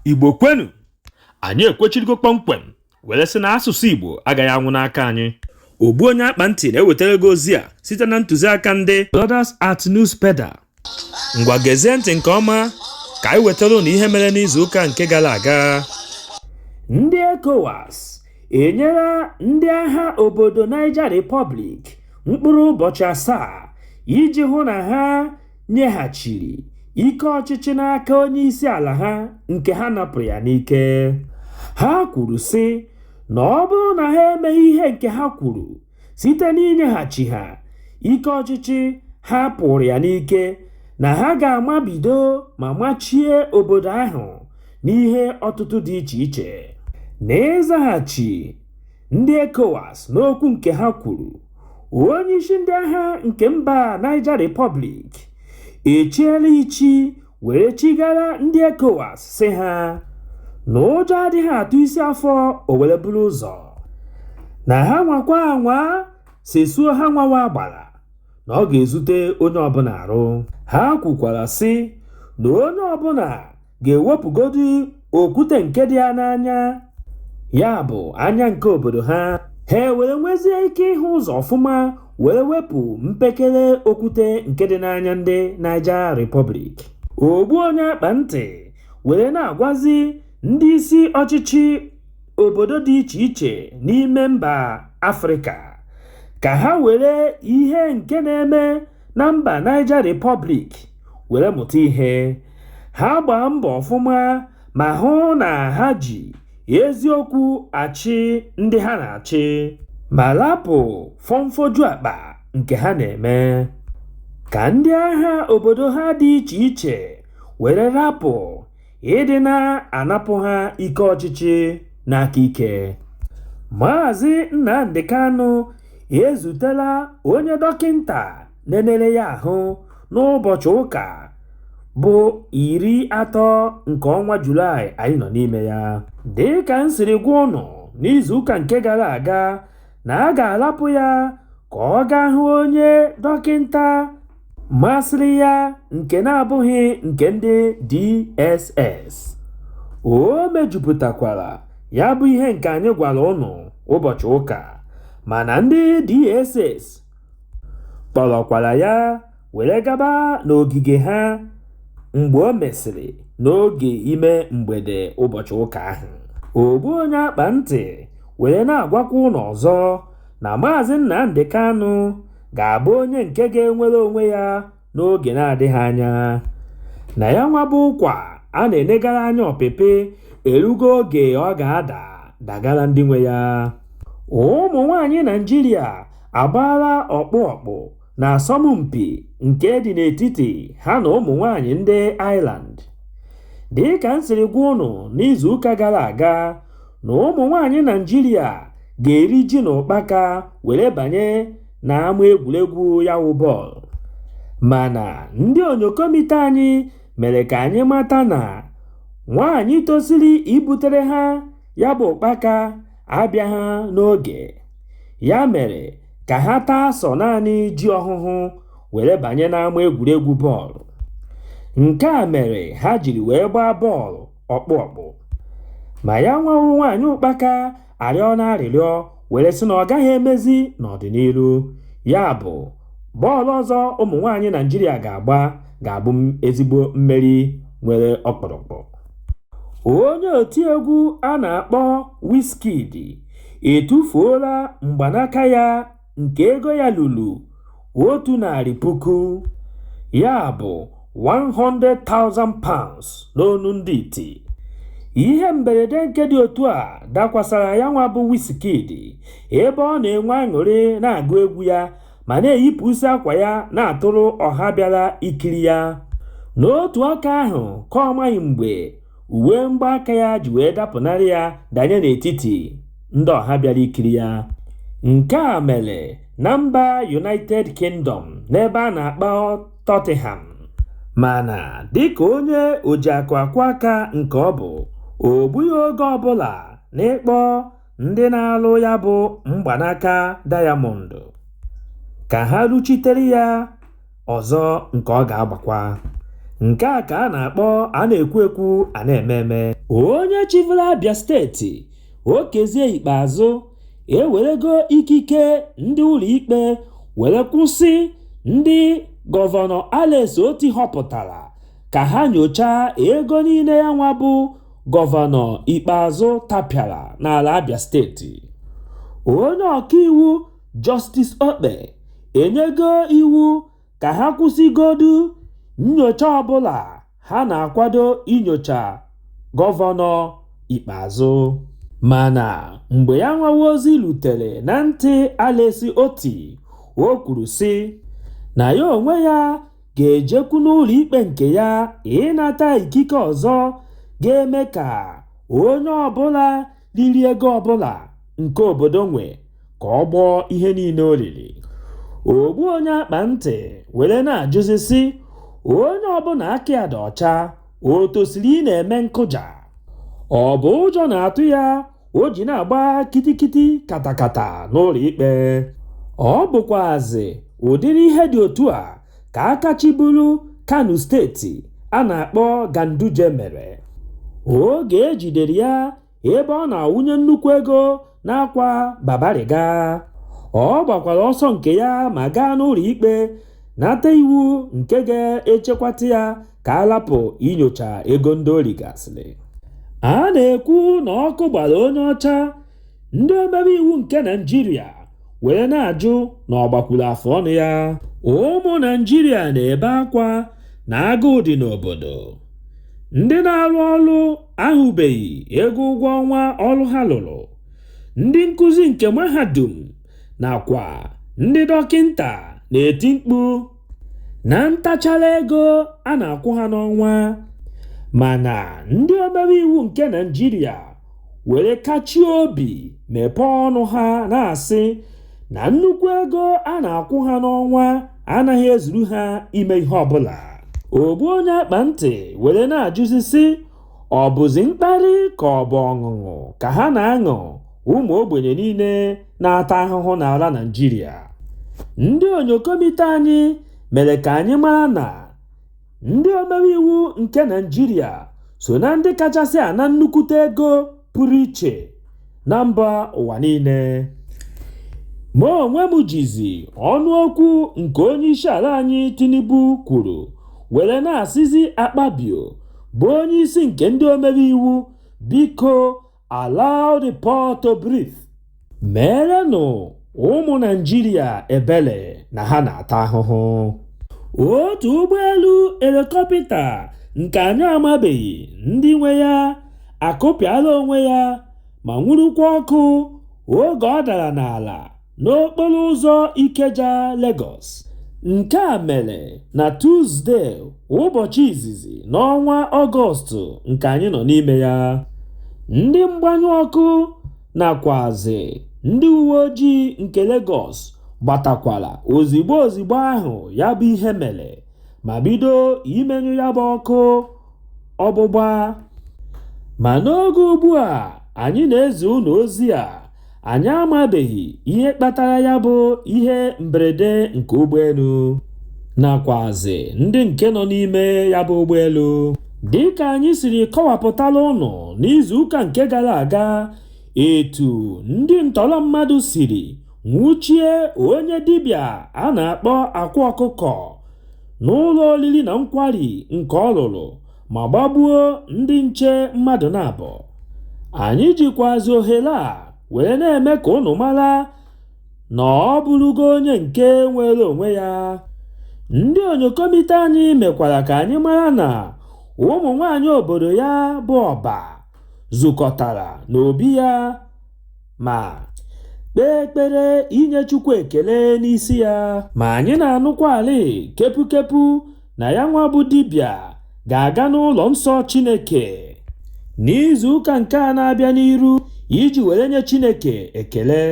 igbo kwenu anyị ekwechirigo kpọmkwem were sị na asụsụ igbo agaghị anwụ n'aka anyị ogbu onye akpa ntị na-ewetara gị ozi a site na ntụziaka ndị Brothers at Newspeda ngwa gezie ntị nke ọma ka anyị wetara ụnụ ihe mere n'izu ụka nke gara aga ndị ECOWAS enyela ndị agha obodo Niger Republic mkpụrụ ụbọchị asaa iji hụ na ha nyeghachiri ike ọchịchị n'aka onye isi ala ha nke ha napụrụ ya n'ike ha kwuru sị na ọ bụrụ na ha emeghị ihe nke ha kwuru site n'inyeghachi ha ike ọchịchị ha pụrụ ya n'ike na ha ga-amabido ma machie obodo ahụ n'ihe ọtụtụ dị iche iche n'ịzaghachi ndị ECOWAS n'okwu nke ha kwuru onyeisi ndị agha nke mba Niger Republic echiela ichi were chigara ndị ECOWAS sị ha na ụjọ adịghị atụ isi afọ o were buru ụzọ na ha nwakwa anwa sesuo ha nwawa agbara na ọ ga-ezute onye ọbụla arụ ha kwukwara sị na onye ọbụla ga-ewepụgodi okwute nke dị ya n'anya ya bụ anya nke obodo ha ha were nwezie ike ịhụ ụzọ ọfụma were wepụ mpekere okwute nke dị n'anya ndị Niger Republic ogbu onye akpa ntị were na-agwazi ndị isi ọchịchị obodo dị iche iche n'ime mba Afrịka ka ha were ihe nke na-eme na mba Niger Republic were mụta ihe ha gbaa mbọ ọfụma ma hụ na ha ji eziokwu achị ndị ha na-achị ma lapụ fọmfọju akpa nke ha na-eme ka ndị agha obodo ha dị iche iche were lapụ ịdị na-anapụ ha ike ọchịchị n'aka ike Maazị Nnamdi Kanu ezutela onye dọkịnta nenere ya ahụ n'ụbọchị ụka bụ iri atọ nke ọnwa julaị anyị nọ n'ime ya dị ka m siri gwa ụnụ n'izuụka nke gara aga na a ga-alapụ ya ka ọ gaa hụ onye dọkịnta masịrị ya nke na-abụghị nke ndị DSS o mejupụtakwara ya bụ ihe nke anyị gwara ụnụ ụbọchị ụka mana ndị DSS kpọrọkwara ya were gaba n'ogige ha mgbe o mesịrị n'oge ime mgbede ụbọchị ụka ahụ ogbu onye akpa ntị were na-agwakwa ụnụ ọzọ na Maazị Nnamdi Kanu ga-abụ onye nke ga-enwere onwe ya n'oge na-adịghị anya. Na ya nwa bụ ụkwa a na-enegara anya ọpịpị erugo oge ọ ga-ada dagara ndị nwe ya. Ụmụ nwaanyị Naịjirịa agbaala ọkpụ ọkpụ na asọmpi nke dị n'etiti ha na ụmụ nwaanyị ndị Ireland. Dịka m siri gwa ụnụ n'izuụka gara aga, na ụmụ nwaanyị Naịjirịa ga-eri ji na ụkpaka were banye n'ama egwuregwu ya wụ bọọlụ mana ndị onyokomite anyị mere ka anyị mata na nwaanyị tosiri ibutere ha ya bụ ụkpaka abịaha n'oge ya mere ka ha taa sọ naanị ji ọhụhụ were banye n'ama egwuregwu bọọlụ nke a mere ha jiri wee gbaa bọọlụ ọkpụ ọkpụ ma ya nwa wụ nwaanyị ụkpaka arịọna arịrịọ were sị na ọ gaghị emezi n'ọdịnihu ya bụ bọọlụ ọzọ ụmụ nwaanyị Naịjirịa ga-agba ga-abụ ezigbo mmeri nwere ọkpụrụkpụ onye otiegwu a na-akpọ Wizkid etufuola mgbanaka ya nke ego ya lulu otu narị puku ya bụ 100,000 pounds n'onu ndị iti ihe mberede nke dị otu a dakwasara ya nwa bụ Wizkid ebe ọ na-enwe aṅụrị na-agụ egwu ya ma na-eyipụsi akwa ya na-atụrụ ọha bịara ikiri ya n'otu aka ahụ ka ọ maghị mgbe uwe mgbaaka ya ji wee dapụnarị ya danye n'etiti ndị ọha bịara ikiri ya nke a mere na mba United Kingdom n'ebe a na-akpọ Tottenham mana dịka onye ojiakụ akwọ aka nke ọ bụ o gbughị oge ọbụla n'ịkpọ ndị na-alụ ya bụ mgbanaka dayamọndụ ka ha rụchitere ya ọzọ nke ọ ga-agbakwa nke a ka a na-akpọ a na-ekwu ekwu a na-eme eme onye chịbulu Abia steeti Okezie Ikpeazụ ewerego ikike ndị ụlọikpe were kwụsị ndị gọvanọ Alex Otti họpụtara ka ha nyochaa ego niile ya nwa bụ gọvanọ Ikpeazụ tapịara n'ala Abia steeti onye ọkaiwu Jọstis Okpe enyego iwu ka ha kwụsịgodu nnyocha ọbụla ha na-akwado inyocha Gọvanọ Ikpeazụ. Mana mgbe ya nwawa ozi lutere na ntị Alex Otti, o kwuru sị na ya onwe ya ga-ejekwu n'ụlọikpe nke ya ịnata ikike ọzọ ga-eme ka onye ọbụla riri ego ọbụla nke obodo nwe ka ọ gbọọ ihe niile o riri ogbu onye akpa ntị were na-ajụzi sị onye ọbụla aka ya dị ọcha o tosiri ị na-eme nkụja ọ bụ ụjọ na-atụ ya o ji na-agba kitikiti katakata n'ụlọ ikpe ọ bụkwazi ụdịrị ihe dị otu a ka aka chịburu Kano steeti a na-akpọ Ganduje mere oge e jidere ya ebe ọ na-awụnye nnukwu ego n'akwa Babariga. Ọ gbakwara ọsọ nke ya ma gaa n'ụlọ ikpe nata iwu nke ga-echekwata ya ka a lapụ inyocha ego ndị o rigasịrị. A na-ekwu na ọkụ gbara onye ọcha ndị omebe iwu nke naijiria were na-ajụ na ọ gbakwuru afọ ọnụ ya ụmụ naijiria na-ebe akwa na agụụ dị n'obodo ndị na-arụ ọrụ ahụbeghị ego ụgwọ ọnwa ọrụ ha lụrụ ndị nkụzi nke mahadum nakwa ndị dọkịnta na-eti mkpu na ntachara ego a na-akwụ ha n'ọnwa mana ndị omebe iwu nke naijiria were kachie obi mepee ọnụ ha na-asị na nnukwu ego a na-akwụ ha n'ọnwa anaghị ezuru ha ime ihe ọbụla ogbu onye akpa ntị were na-ajụzi sị ọ bụzi mkparị ka ọ bụ ọṅụṅụ ka ha na-aṅụ ụmụ ogbenye niile na-ata ahụhụ n'ala Naịjirịa. Ndị onyokomite anyị mere ka anyị mara na ndị omebe iwu nke Naịjirịa so na ndị kachasị ana nnukwute ego pụrụ iche na mba ụwa niile. Ma onwe m jizi ọnụokwu nke onyeisiala anyị Tinubu kwuru were na-asịzi Akpabio bụ onyeisi nke ndị omebe iwu biko allow the poor to breathe meerenụ ụmụ naijiria ebele na ha na-ata ahụhụ otu ụgbọelu elikọpịta nke anyị amabeghị ndị nwe ya akụpịala onwe ya ma nwurukwa ọkụ oge ọ dara n'ala n'okporo ụzọ Ikeja Lagos. Nke a mere na Tuzde ụbọchị izizi n'ọnwa Ọgọstụ nke anyị nọ n'ime ya. Ndị mgbanyụ ọkụ nakwazị ndị uwe ojii nke Lagos gbatakwara ozigbo ozigbo ahụ ya bụ ihe mere ma bido imenyụ ya bụ ọkụ ọgbụgba. Ma n'oge ugbu a anyị na-ezi unu ozi a Anyị amabeghị ihe kpatara ya bụ ihe mberede nke ụgbọelu nakwazi ndị nke nọ n'ime ya bụ ụgbọelu. Dịka anyị siri kọwapụtala ụnụ n'izuụka nke gara aga etu ndị ntọrọ mmadụ siri nwụchie onye dibịa a na-akpọ Akwa Ọkụkọ n'ụlọ oriri na nkwari nke ọ rụrụ ma gbagbuo ndị nche mmadụ naabọ anyị jikwazi ohere a wee na-eme ka ụnụ mara na ọ bụrụgo onye nke nwere onwe ya ndị onyokomite anyị mekwara ka anyị mara na ụmụ nwaanyị obodo ya bụ Ọba zukọtara n'obi ya Ma kpee ekpere inye Chukwu ekele n'isi ya. Ma anyị na-anụkwalị kepukepu na ya nwa bụ dibịa ga-aga n'ụlọ nsọ Chineke n'izu ụka nke a na-abịa n'iru iji were nye Chineke ekele.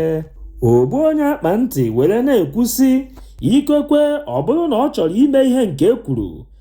Ogbu onye akpa ntị were na-ekwu sị, ikekwe ọ bụrụ na ọ chọrọ ime ihe nke e kwuru,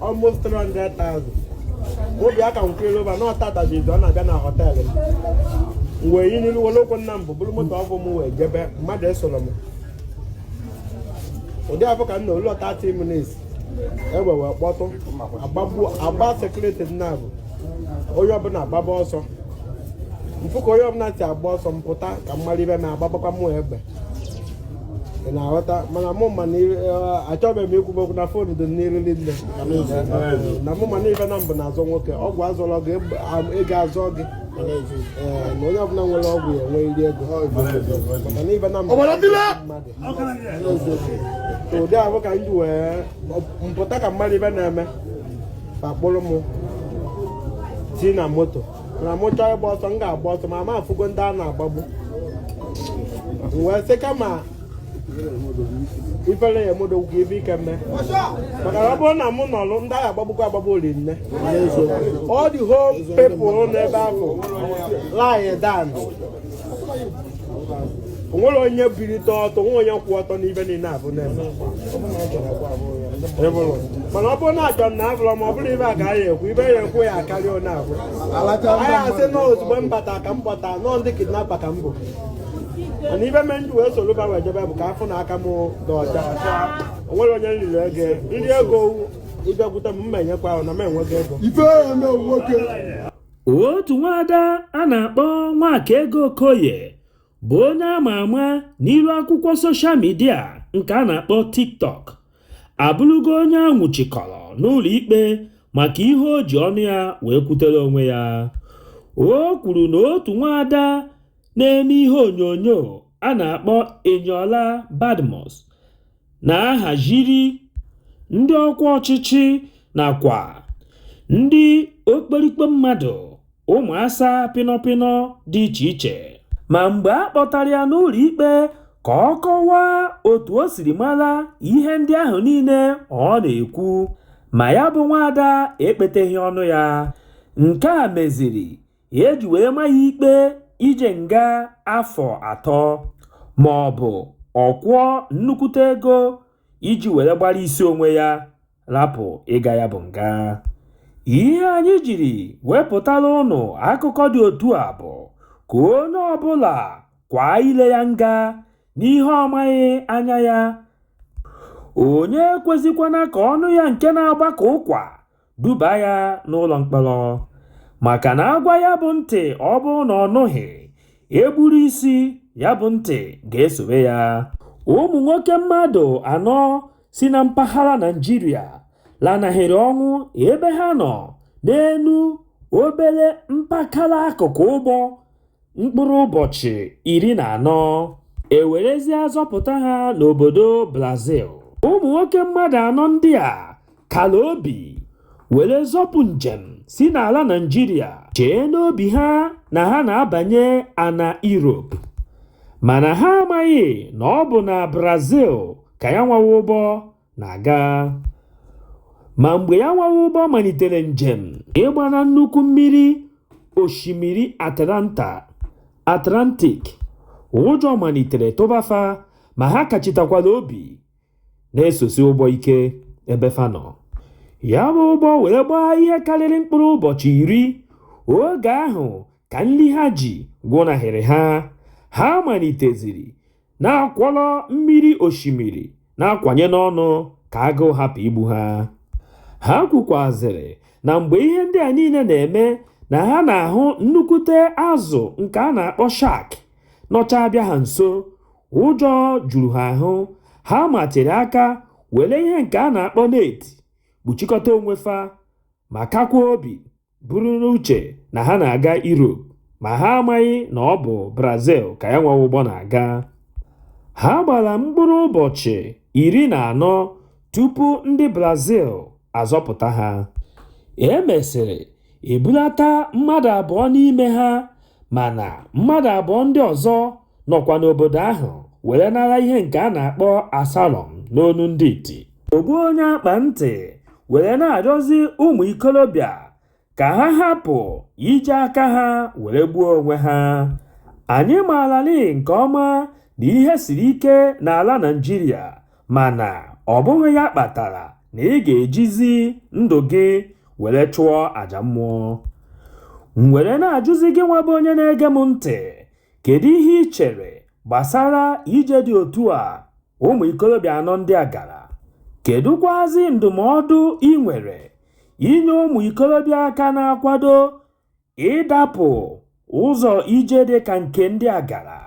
almost 300,000 obi aka nkwere ụba na ọtatazi ọ na-abịa na họteelụ m wee yi n'ilu were okwu nna m bụ buru moto ọ bụ m wee jebe mmadụ esoro m ụdị afụ ka m nọlụ 30 minutes egbe wee kpọtụ a gbaa sekuriti naabọ onye ọbụla agbaba ọsọ m fụ ka onye ọbụla si agba ọsọ m pụta ka m mara ife m agbabakwa mụ egbe ị na-aghọta mana mụ ma achọghị m ikwu okwu na fon dị n'iriri nne na mụ ma na ife naabọ na-azọ nwoke ọgwụ azọrọ gị ego azọ gị na onye ọbụla nwere ọgwụ ya enweriri ego maka na ife na-egbu mmadụ ụdị ahụ ka m ji wee pụta ka m mara ife na-eme ka a kpụrụ m tii na moto na mụ chọọ ịgba ọsọ m ga-agba ọsọ ma ma afụgo ndị a na-agbagbu M wee sị kama ifere ya-eme odogwu ka ife ike mee maka na ọ bụrụ na mụ nọlụ ndị a ga-agbagbukwa agbagbu ọra niile all the whole people n'ebe ahụ lie down o nwerọ onye bilite ọtọ nwe onye kwụ ọtọ n'ife niile ahụ na-eme mana ọ bụrụ na achọ na abụrọ ma ọ bụrụ ife a ka a ya-ekwu ife a ya-ekwu ya akarịa onye ahụ a ya-asị na ozugbo m bata ka m bata nọọ ndị kidnapa ka m bụ mana ife me m ji wee soro wee jebe bụ ka a fụ na aka m dị ọcha o nwerọ onye m riri ego m ji ego ị bịakwute m mma enyekwa ahụ na m enweghị ego otu nwaada a na-akpọ Nwakaego Okoye bụ onye ama ama n'ilu akwụkwọ soshal midia nke a na-akpọ TikTok abụrụgo onye a nwụchikọrọ n'ụlọ ikpe maka ihe o ji ọnụ ya wee kwutere onwe ya o kwuru na otu nwaada na-eme ihe onyonyo a na-akpọ Eniola Badmus na-ahaziri ndị ọkwa ọchịchị nakwa ndị okperikpe mmadụ ụmụasa pịnọpịnọ dị iche iche ma mgbe a kpọtara ya n'ụlọ ikpe ka ọ kọwaa otu o siri mara ihe ndị ahụ niile ọ na-ekwu ma ya bụ nwaada ekpeteghị ọnụ ya nke a meziri e ji wee ma ya ikpe ije nga afọ atọ ma ọ bụ ọ kwụọ nnukwute ego iji were gbara isi onwe ya rapụ ịga ya bụ nga ihe anyị jiri wepụtara ụnụ akụkọ dị otu a bụ ka onye ọbụla kwaa ile ya nga n'ihe ọ maghị anya ya onye ekwezikwana ka ọnụ ya nke na-agba ka ụkwa duba ya n'ụlọ mkpọrọ maka na a gwa ya bụ ntị ọ bụrụ na ọ nụghị e gburu isi ya bụ ntị ga-esobe ya ụmụ nwoke mmadụ anọ si na mpaghara Naịjirịa lanahịrị ọnwụ ebe ha nọ n'elu obere mpakala akụkụ ụgbọ mkpụrụ ụbọchị iri na anọ e werezie zọpụta ha n'obodo Brazil ụmụ nwoke mmadụ anọ ndị a kala obi were zọpụ njem si n'ala Naịjirịa chee n'obi ha na ha na-abanye ana Europe mana ha amaghị na ọ bụ na Brazil ka ya nwawa ụgbọ na-aga ma mgbe ya nwawa ụgbọ malitere njem ịgba na nnukwu mmiri osimiri Atlanta Atlantic ụjọ malitere tụba fa ma ha kachitakwala obi na-esosi ụgbọ ike ebe fa nọ ya bụ ụgbọ wee gbaa ihe karịrị mkpụrụ ụbọchị iri oge ahụ ka nri ha ji gwụnahịrị ha ha maliteziri na-akwọrọ mmiri osimiri na-akwanye n'ọnụ ka agụụ hapụ igbu ha. Ha kwukwazịrị na mgbe ihe ndị a niile na-eme na ha na-ahụ nnukwute azụ nke a na-akpọ shark nọcha abịa ha nso, ụjọ juru ha ahụ, ha matịrị aka were ihe nke a na-akpọ net kpuchikọta onwe fa ma kakwaa obi. buru n'uche na ha na-aga Europe ma ha amaghị na ọ bụ Brazil ka ya nwa ụgbọ na-aga. Ha gbara mkpụrụ ụbọchị iri na anọ tupu ndị Brazil azọpụta ha. E mesịrị ebulata mmadụ abụọ n'ime ha mana mmadụ abụọ ndị ọzọ nọkwa n'obodo ahụ were nara ihe nke a na-akpọ asylum n'onu ndị iti ogbu onye akpa ntị were na-arịọzi ụmụ ikolobịa ka ha hapụ iji aka ha were gbuo onwe ha anyị maarali nke ọma na ihe siri ike n'ala Naịjirịa mana ọ bụghị ya kpatara na ị ga-ejizi ndụ gị were chụọ aja mmụọ m were na-ajụzi gị nwa bụ onye na-ege m ntị Kedu ihe i chere gbasara ije dị otu a ụmụ ikolobịa anọ ndị a gara? Kedụkwazi ndụmọdụ i nwere inye ụmụ ikolobịa ka na-akwado ịdapụ ụzọ ije dị ka nke ndị a gara?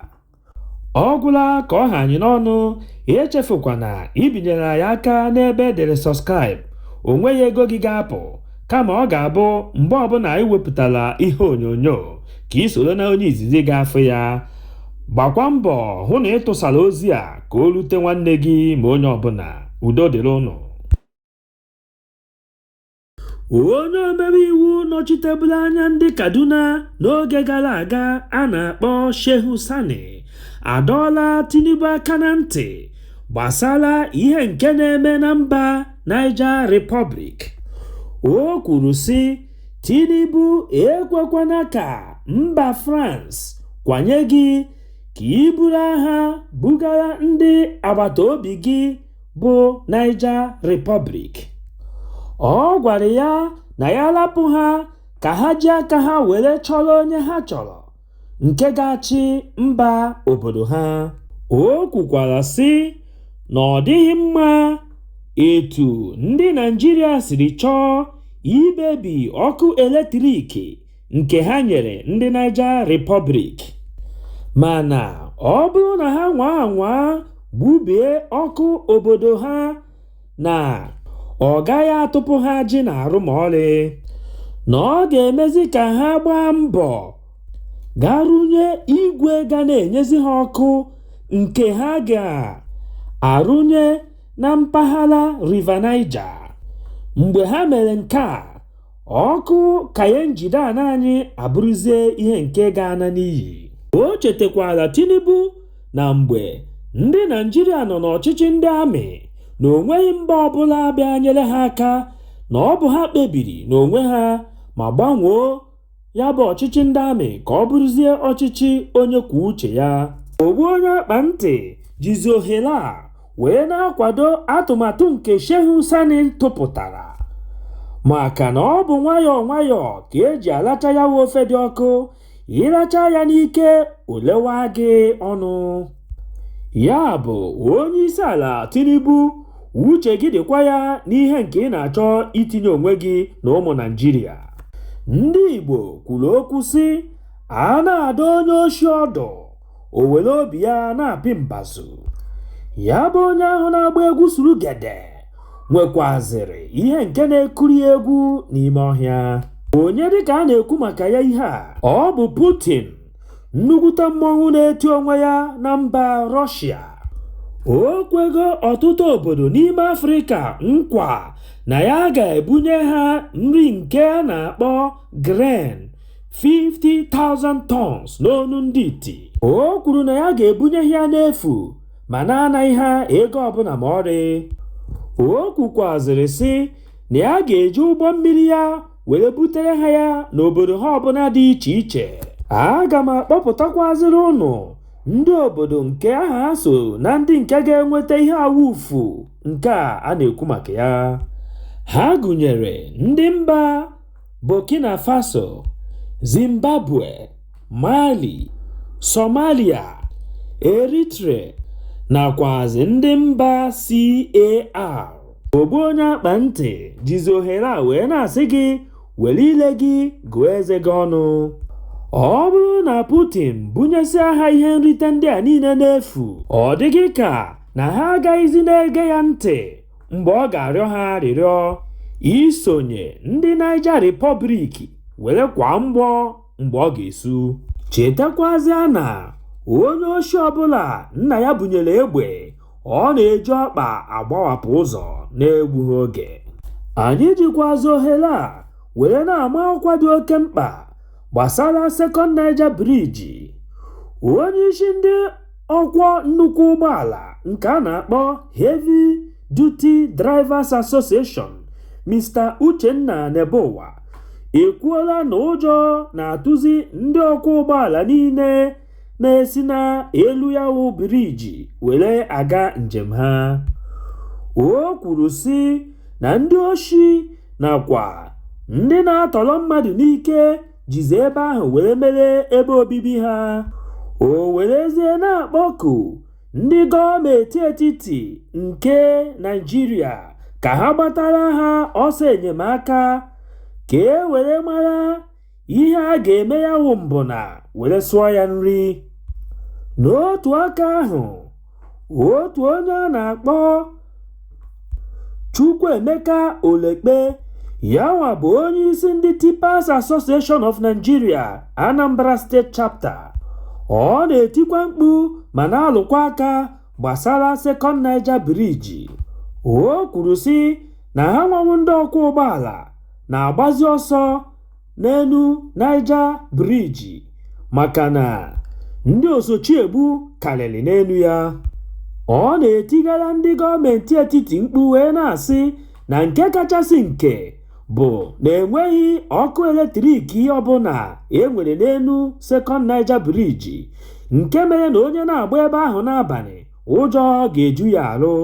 Ọ gwụla ka ọ ha anyị n'ọnụ, echefukwana ibinyere anyị aka n'ebe e dere subscribe, o nweghị ego gị ga-apụ. kama ọ ga-abụ mgbe ọbụla anyị wepụtara ihe onyonyo ka i soro na onye izizi ga-afụ ya gbakwa mbọ hụ na ị tụsara ozi a ka o rute nwanne gị ma onye ọbụla udo dịrị ụnụ onye omebe iwu nọchiteburu anya ndị kaduna n'oge gara aga a na-akpọ shehu sani adọọla tinubu aka na ntị gbasara ihe nke na-eme na mba Niger Republic o kwuru sị Tinubu ekwekwana ka mba France kwanye gị ka i buru agha bugara ndị agbata obi gị bụ Niger Republic ọ gwara ya na ya rapụ ha ka ha ji aka ha were chọrọ onye ha chọrọ nke ga-achị mba obodo ha o kwukwara sị na ọ dịghị mma etu ndị Naịjirịa siri chọọ ibebi ọkụ eletrik nke ha nyere ndị Niger Republic mana ọ bụrụ na ha nwaa anwaa gbubie ọkụ obodo ha na ọ gaghị atụpụ ha ajị n'arụ ma ọlị na ọ ga-emezi ka ha gbaa mbọ ga rụnye igwe ga na-enyezi ha ọkụ nke ha ga-arụnye na mpaghara River Niger. Mgbe ha mere nke a, ọkụ ka ya njide ana anyị abụrụzie ihe nke ga-ana n'iyi o chetakwara tinubu na mgbe ndị naịjirịa nọ n'ọchịchị ndị amị na o nweghị mba ọbụla bịa nyere ha aka na ọ bụ ha kpebiri n'onwe ha ma gbanwoo ya bụ ọchịchị ndị amị ka ọ bụrụzie ọchịchị onye kwuo uche ya ogbu onye akpa ntị jizi ohere a wee na-akwado atụmatụ nke Shehu Sani tụpụtara maka na ọ bụ nwayọọ nwayọọ ka e ji alacha ya ofe dị ọkụ ị lacha ya n'ike o lewa gị ọnụ Ya bụ, Onyeisiala Tinubu, uche gị dịkwa ya n'ihe nke ị na-achọ itinye onwe gị na ụmụ Naịjirịa. Ndị Igbo kwuru okwu sị, a na-adụ onye oshi ọdụ, o were obi ya na-apị mbazụ. Ya bụ onye ahụ na-agba egwu surugede nwekwazịrị ihe nke na-akụrụ ya egwu n'ime ọhịa. Onye dịka a na-ekwu maka ya ihe a? Ọ bụ Putin nnukwute mmọnwụ na-eti onwe ya na mba rọshịa o kwego ọtụtụ obodo n'ime afrịka nkwa na ya ga-ebunye ha nri nke a na-akpọ grain 50,000 tons n'onu ndị iti o kwuru na ya ga-ebunye ha ya n'efu ma na-anaghị ha ego ọbụla ma ọrị o kwukwazịrị sị na ya ga-eji ụgbọ mmiri ya were butere ha ya n'obodo ha ọbụla dị iche iche aga m akpọpụtakwazịrị ụnụ ndị obodo nke aha ha so na ndị nke ga-enweta ihe awufu nke a a na-ekwu maka ya ha gụnyere ndị mba burkina faso zimbabwe mali somalia eritrea nakwazị ndị mba car ogbu onye akpa ntị jizi ohere a wee na-asị gị were ile gị gụọ eze gị ọnụ ọ bụrụ na Putin bunyesịa ha ihe nrite ndị a niile n'efu ọ dị gị ka na ha agaghịzi na-ege ya ntị mgbe ọ ga-arịọ ha arịrịọ isonye ndị Niger Republic were kwaa mgbọ mgbe o ga-esu chetakwazịa na onye oshi ọbụla nna ya bunyere egbe ọ na-eji ọkpa agbawapụ ụzọ na-egbughị oge anyị jikwazi ohere a were na-ama ọkwa dị oke mkpa gbasara second niger bridge onye isi ndị ọkwọ nnukwu ụgbọala nke a na-akpọ heavy Duty Drivers Association Mr. Uchenna Nebuwa ekwuola na ụjọ na-atụzi ndị ọkwọ ụgbọala niile na-esi n'elu ya wụ biriji were aga njem ha. O kwuru sị na ndị oshi nakwa ndị na-atọrọ mmadụ n'ike jizi ebe ahụ were mere ebe obibi ha. O werezie na-akpọku Ndị gọọmenti etiti nke Naịjirịa ka ha gbatara ha ọsọ enyemaka ka e were mara ihe a ga-eme ya wụ mbụna were sụọ ya nri. N'otu aka ahụ, otu onye a na-akpọ Chukwuemeka Olekpe yanwa bụ onyeisi ndị Tippers Association of Nigeria Anambra State Chapter ọ na-etikwa mkpu ma na-alụkwa aka gbasara Second Niger Bridge o kwuru sị na hanwa wụ ndị ọkwọ ụgbọala na-agbazi ọsọ n'elu Niger Bridge maka na ndị osochiegbu karịrị n'elu ya. Ọ na-etigara ndị gọọmentị etiti mkpu wee na-asị na nke kachasị nke bụ na enweghị ọkụ eletrik ọbụla e nwere n'elu Second Niger Bridge nke mere na onye na-agba ebe ahụ n'abalị ụjọ ga-eju ya arụ.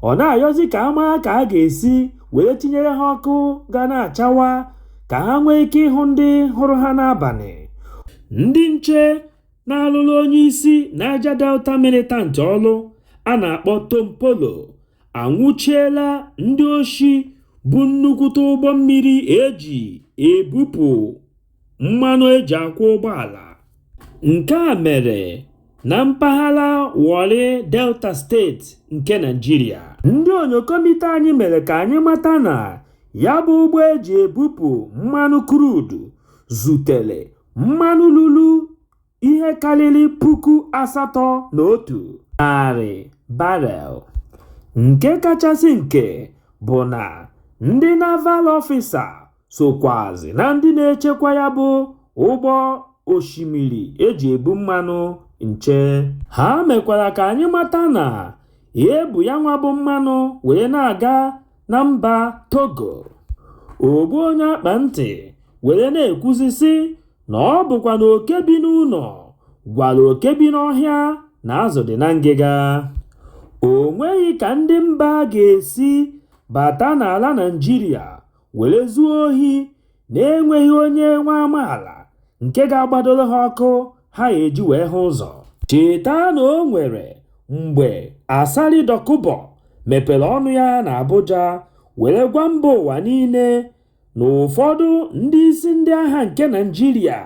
Ọ na-ayọzi ka a maa ka a ga-esi were tinyere ha ọkụ ga na-achawa ka ha nwee ike ịhụ ndị hụrụ ha n'abalị ndị nche na-alụrụ onye isi Niger Delta militant ọlụ a na-akpọ Tompolo anwụchiela ndị oshi bu nnukwute ụgbọ mmiri e ji ebupụ mmanụ e ji akwọ ụgbọala Nke a mere na mpaghara Warri Delta steeti nke Naịjirịa. Ndị onyokomite anyị mere ka anyị mata na ya bụ ụgbọ e ji ebupụ mmanụ crude zutere mmanụ lulu ihe karịrị puku asatọ na otu narị barrel. Nke kachasị nke bụ na ndị Naval Officer sokwazi na ndị na-echekwa ya bụ ụgbọ osimiri e ji ebu mmanụ nche ha mekwara ka anyị mata na e bu yanwa bụ mmanụ wee na-aga na mba Togo ogbu onye akpa ntị were na-ekwuzi sị na ọ bụkwa na oke bi n'ụlọ gwara oke bi n'ọhịa na azụ dị na ngịga o nweghị ka ndị mba ga-esi bata n'ala Naịjirịa were zuo ohi na-enweghị onye nwa amaala nke ga-agbadoro ha ọkụ ha eji wee hụ ụzọ cheta na o nwere mgbe Asari Dokubo mepere ọnụ ya na Abuja were gwa mba ụwa niile na ụfọdụ ndị isi ndị agha nke Naịjirịa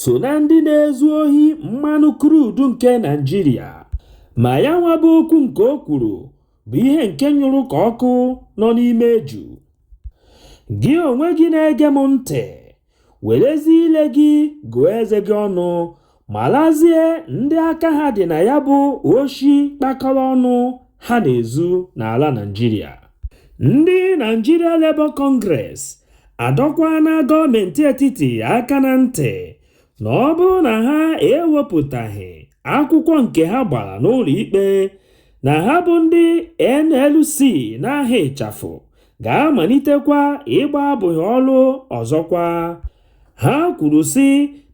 so na ndị na-ezu ohi mmanụ krudu nke Naịjirịa ma ya nwa bụ okwu nke o kwuru bụ ihe nke nyụrụ ka ọkụ nọ n'ime eju. Gị onwe gị na-ege m ntị, werezie ile gị gụọ eze gị ọnụ, malazie ndị aka ha dị na ya bụ oshi kpakọrọ ọnụ ha na-ezu n'ala Naịjirịa. Ndị Nigeria Labour Congress adọkwaana gọọmenti etiti aka na ntị na ọ bụrụ na ha ewepụtaghị akwụkwọ nke ha gbara n'ụlọ ikpe na ha bụ ndị NLC n'aha ịchafụ ga-amalitekwa ịgba abụbọ ọrụ ọzọkwa. Ha kwuru sị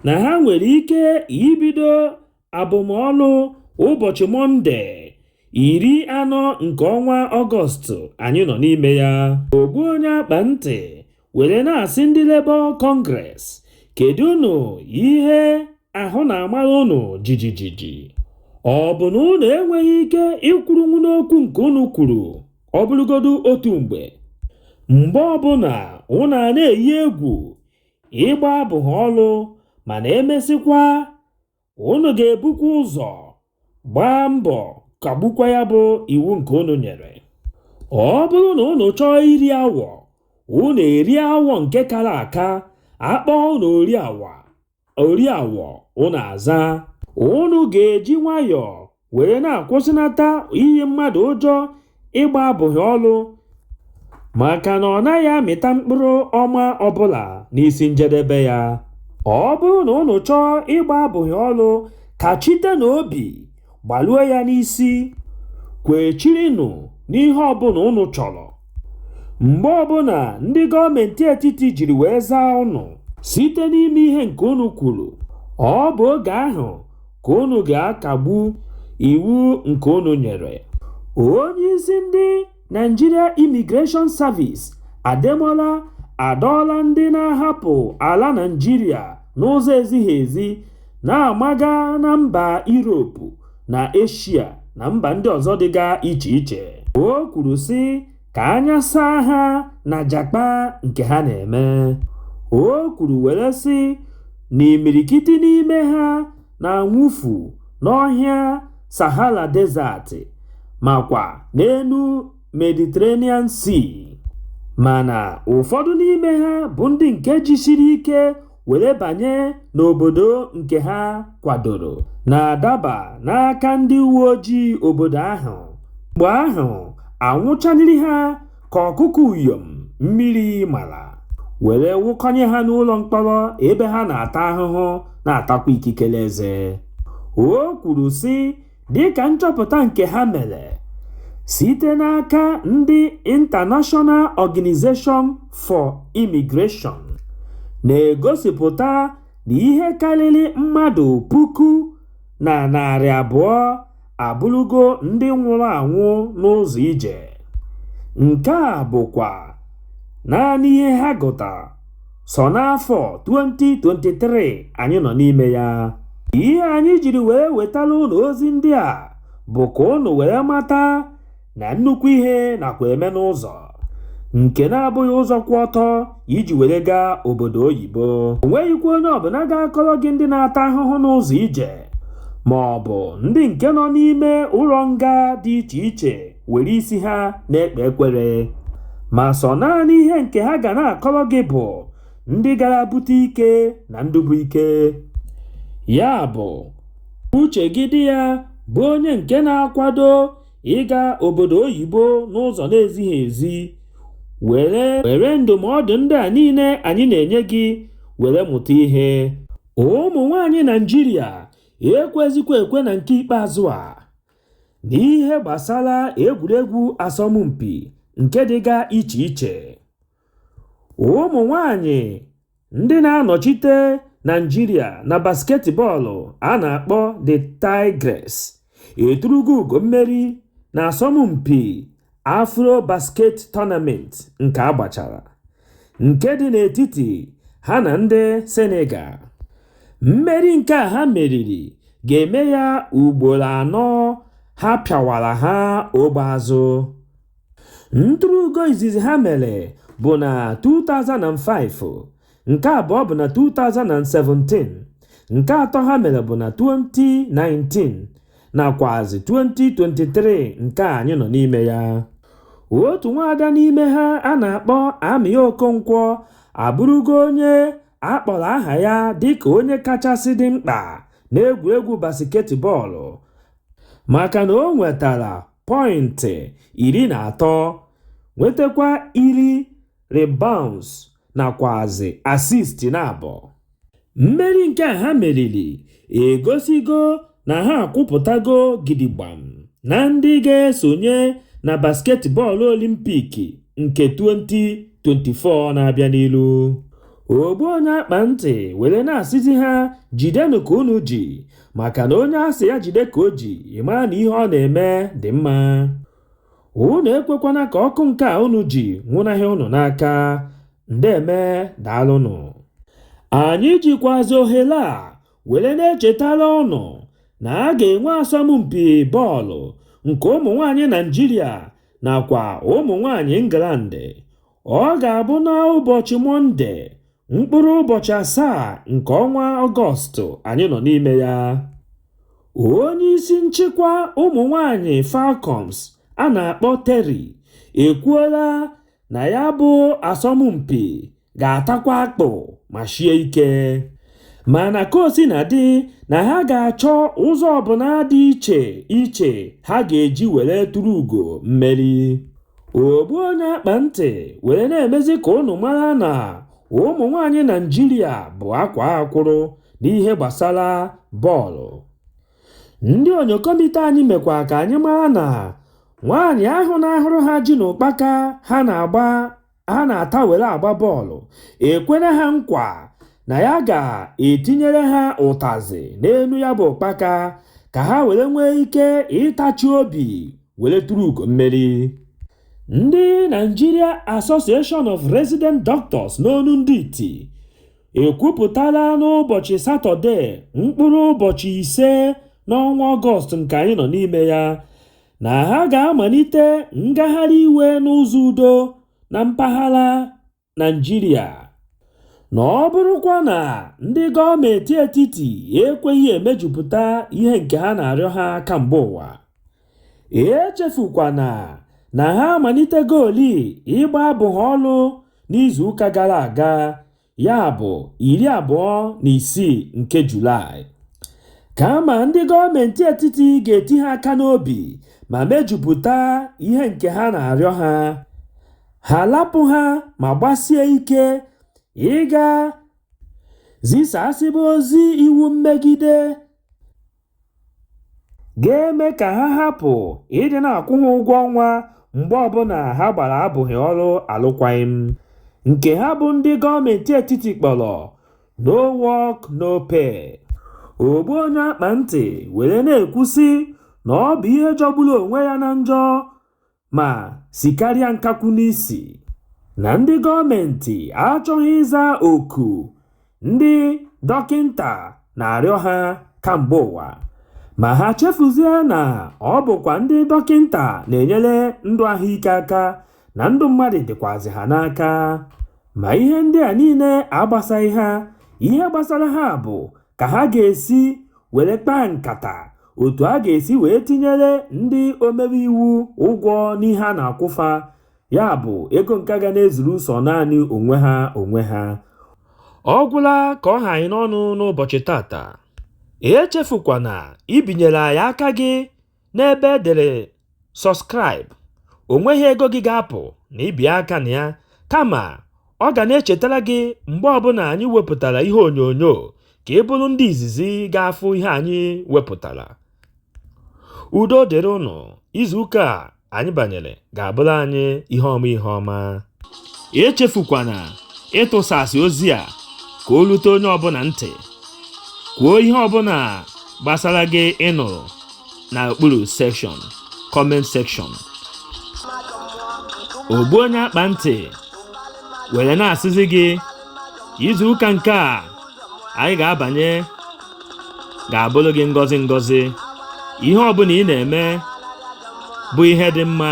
na ha nwere ike ibido abụbọ ọlụ ụbọchị mọnde iri anọ nke ọnwa ọgọst anyị nọ n'ime ya ogbu onye akpa ntị were na-asị ndị Labour Congress kedụnụ ihe ahụ na-amara unu jijijiji ọ bụ na unu enweghị ike ịkwụrụnwu n'okwu nke unu kwuru ọ bụrụgodu otu mgbe mgbe ọbụla unu ana-eyi egwu ịgba abụbọ ọlụ mana e mesịkwa unu ga-ebukwa ụzọ gbaa mbọ kagbukwa ya bụ iwu nke unu nyere ọ bụrụ na unu chọọ iri awọ unu eri awọ nke kara aka a kpọọ unu ori awọ unu aza unu ga-eji nwayọọ were na-akwụsịnata iyi mmadụ ụjọ ịgba abụbọ ọlụ maka na ọ naghị amịta mkpụrụ ọma ọbụla n'isi njedebe ya ọ bụrụ na unu chọọ ịgba abụbọ ọlụ kachitenụ obi gbalue ya n'isi kwechirinụ n'ihe ọbụla unu chọrọ mgbe ọbụla ndị gọọmenti etiti jiri wee zaa unu site n'ime ihe nke unu kwuru ọ bụ oge ahụ ka unu ga-akagbu iwu nke unu nyere. Onye isi ndị Nigeria Immigration Service Ademola adọọla ndị na-ahapụ ala Naịjirịa n'ụzọ ezighị ezi na-amaga na mba Europe na Eshia na mba ndị ọzọ dịga iche iche. O kwuru sị ka anya saa ha na jakpa nke ha na-eme. O kwuru were sị na imirikiti n'ime ha na-anwụfu n'ọhịa Sahara Desert makwa n'elu Mediterranean Sea, mana ụfọdụ n'ime ha bụ ndị nke jisiri ike were banye n'obodo nke ha kwadoro na-adaba n'aka ndị uwe ojii obodo ahụ mgbe ahụ anwụchaniri ha ka ọkụkọ uyom mmiri mara were wụkọnye ha n'ụlọ mkpọrọ ebe ha na-ata ahụhụ na-atakwa ikikere eze o kwuru sị Dịka nchọpụta nke ha mere site n'aka ndị International Organization for Immigration na-egosipụta na ihe karịrị mmadụ puku na narị abụọ abụrụgo ndị nwụrụ anwụ n'ụzọ ije, nke a bụkwa naanị ihe ha gụtara. sọ n'afọ 2023 anyị nọ n'ime ya ihe anyị jiri wee wetara ụnụ ozi ndị a bụ ka ụnụ wee mata na nnukwu ihe nakwa eme n'ụzọ nke na-abụghị ụzọ kwụ ọtọ iji were gaa obodo oyibo o nweghịkwa onye ọbụla ga-akọrọ gị ndị na-ata ahụhụ n'ụzọ ije ma ọ bụ ndị nke nọ n'ime ụlọ nga dị iche iche were isi ha na-ekpe ekwere ma sọ naanị ihe nke ha ga na-akọrọ gị bụ ndị gara bute ike na ndị bu ike ya bụ uche gị dị ya bụ onye nke na-akwado ịga obodo oyibo n'ụzọ na-ezighị ezi were ndụmọdụ ndị a niile anyị na-enye gị were mụta ihe ụmụ nwaanyị Naịjirịa ekwezikwa ekwe na nke ikpeazụ a n'ihe gbasara egwuregwu asọmpi nke dịga iche iche ụmụ nwanyị ndị na-anọchite Naịjirịa na basketbọọlụ a na-akpọ the Tigress eturugo ugo mmeri na asọmpi Afro Basket Tournament nke a gbachara nke dị n'etiti ha na ndị Senegal. Mmeri nke a ha meriri ga-eme ya ugboro anọ ha pịawara ha ogbe azụ. Nturu ugo izizi ha mere bụ na 2005 nke abụọ bụ na 2017 nke atọ ha mere bụ na 2019 nakwazi 2023 nke anyị nọ n'ime ya otu nwaada n'ime ha a na-akpọ Amy Okonkwo abụrụgo onye a kpọrọ aha ya dịka onye kachasị dị mkpa n'egwuregwu basketbọọlụ maka na o nwetara pọịntị iri na atọ nwetakwa iri rebounds nakwazi assist naabọ. Mmeri nke a ha meriri egosigo na ha akwụpụtago gidigbam na ndị ga-esonye na basketbọọlụ Olimpik nke 2024 na-abịa n'ilu. Ogbu onye akpa ntị were na-asịzi ha jidenụ ka unu ji maka na onye a sị ya jide ka o ji, ị mara na ihe ọ na-eme dị mma. unu ekwekwana ka ọkụ nke a unu ji nwụnahịa unu n'aka ndeeme daalụnụ anyị jikwazi ohere a were na-echetara ụnụ na a ga-enwe asọmpi bọọlụ nke ụmụ nwaanyị naijiria nakwa ụmụ nwaanyị england Ọ ga-abụ n'ụbọchị Mọnde, mkpụrụ ụbọchị asaa nke ọnwa Ọgọstụ anyị nọ n'ime ya. Onye isi nchịkwa ụmụ nwanyị Falcons a na-akpọ Terry ekwuola na ya bụ asọmpi ga-atakwa akpụ ma shie ike. Mana kaosinadị, na ha ga-achọ ụzọ ọbụla dị iche iche ha ga-eji were turu ugo mmeri. ogbu onye akpa ntị were na-emezi ka unu mara na ụmụ nwaanyị Naịjirịa bụ akwaa akwụrụ n'ihe gbasara bọọlụ ndị onyokomite anyị mekwa ka anyị mara na nwaanyị ahụ na-ahụrụ ha ji na ụkpaka ha na-agba ha na-ata were agba bọọlụ ekwere ha nkwa na ya ga-etinyere ha ụtazị n'elu ya bụ ụkpaka ka ha were nwee ike ịtachi obi were turu ugo mmeri ndị Nigeria Association of Resident Doctors n'onu ndị iti ekwupụtala n'ụbọchị satọde mkpụrụ ụbọchị ise n'ọnwa ọgọst nke anyị nọ n'ime ya na ha ga-amalite ngagharị iwe n'ụzọ udo na mpaghara Naịjirịa na ọ bụrụkwa na ndị gọọmenti etiti ekweghị emejupụta ihe nke ha na-arịọ ha kamgbe ụwa echefukwana na ha amalitegoli ịgba abụbọ ọlụ n'izuụka gara aga ya bụ iri abụọ na isii nke Julaị. Kama ndị gọọmenti etiti ga-eti ha aka n'obi ma mejupụta ihe nke ha na-arịọ ha, ha alapụ ha ma gbasie ike ịga zisasịba ozi iwu mmegide. ga-eme ka ha hapụ ịdị na-akwụ ha ụgwọ ọnwa mgbe ọbụla ha gbara abụbọ ọrụ alụkwaghị m nke ha bụ ndị gọọmenti etiti kpọrọ no work no pay ogbu onye akpa ntị were na-ekwusị na ọ bụ ihe jọgburu onwe ya na njọ ma sikarịa nkakwu n'isi na ndị gọọmentị achọghị ịza oku ndị dọkịnta na-arịọ ha kamgbe ụwa ma ha chefuzie na ọ bụkwa ndị dọkịnta na-enyere ndụ ahụike aka na ndụ mmadụ dịkwazị ha n'aka ma ihe ndị a niile agbasaghị ha ihe gbasara ha bụ ka ha ga-esi were kpaa nkata otu a ga-esi wee tinyere ndị omebe iwu ụgwọ n'ihe a na-akwụ fa ya bụ ego nke ga na-ezuru sọ naanị onwe ha onwe ha ọ gwụla ka ọ ha anyị n'ọnụ n'ụbọchị tata echefukwana ibinyere anyị aka gị n'ebe e dere subscribe o nweghị ego gị ga-apụ na i bie aka na ya kama ọ ga na-echetara gị mgbe ọbụla anyị wepụtara ihe onyonyo ka ị bụrụ ndị izizi ga-afụ ihe anyị wepụtara udo dịrị ụnụ izuụka a anyị banyere ga-abụrụ anyị ihe ọma ihe ọma echefukwana ịtụsasị ozi a ka o lute onye ọbụla ntị kwuo ihe ọbụla gbasara gị ị nụrụ na okpuru section comment section ogbu onye akpa ntị were na-asịzi gị izu ụka nke a anyị ga-abanye ga-abụrụ gị ngọzi ngọzi ihe ọbụla ị na-eme bụ ihe dị mma